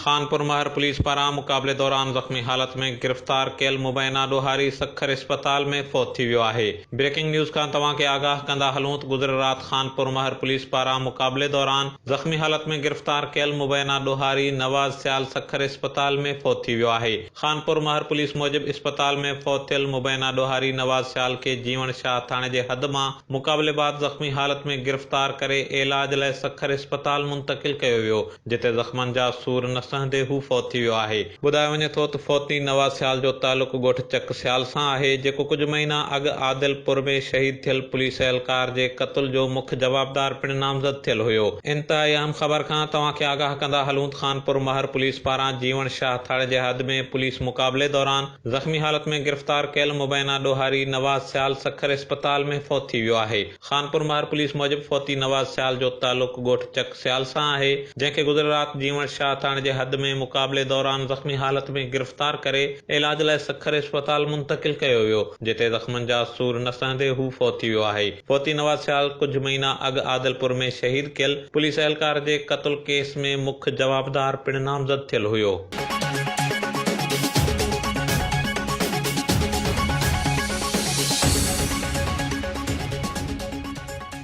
Khanpur Mahar police پاران مقابلي دوران زخمي حالت ۾ گرفتار ڪيل مبينا ڏوهاري سکر اسپتال ۾ فوت ٿي ويو آهي بريڪنگ نيوز کان توهان کي آگاهه ڪندا هلون ته گذريل رات خانپور مهر پوليس پاران مقابلي دوران زخمي حالت ۾ گرفتار ڪيل مبينا ڏوهاري نواز سيال سکر اسپتال ۾ فوت ٿي ويو آهي خانپور مهر پوليس موجب اسپتال ۾ فوت ٿيل مبينا ڏوهاري نواز سيال کي جيوڻ شاهه ٿاڻي جي حد مان مقابلي بعد زخمي حالت ۾ گرفتار ڪري عيلاج لاء سکر اسپتال منتقل ڪيو ويو جتي زخمن جا سور نه سهندي هو فوت ٿي ويو آهي. ٻڌايو وڃي ٿو ته فوتي نواز سيال جو تعلق ڳوٺ چڪ سيال سان آهي جيڪو ڪجهه مهينا اڳ عادل پور ۾ شهيد ٿيل پوليس اهلڪار جي قتل جو مک جوابدار پڻ نامزد ٿيل هيو. انتهائي اهم خبر کان توهان کي آگاهه ڪندا هلون ته خانپور مهر پوليس پاران جيوڻ شاهه ٿڙ جي حد ۾ پوليس مقابلي دوران زخمي حالت ۾ گرفتار ڪيل مبينا ڏوهاري نواز سيال سکر اسپتال ۾ فوت ٿي ويو آهي خانپور مهر پوليس موجب فوتي نواز سيال جو تعلق ڳوٺ چڪ سيال سان آهي جنهن کي گذريل رات جيوڻ شاهه ٿاڻي جي حد ۾ مقابلي دوران زخمي حالت ۾ گرفتار ڪري علاج لاء سکر اسپتال منتقل ڪيو ويو. جتي زخمن جا سور نه سهندي هو فوت ٿي ويو آهي. فوتي نواز سيال ڪجهه مهينا اڳ عادلپور ۾ شهيد ڪيل پوليس اهلڪار جي قتل ڪيس ۾ مک جوابدار پڻ نامزد ٿيل هيو.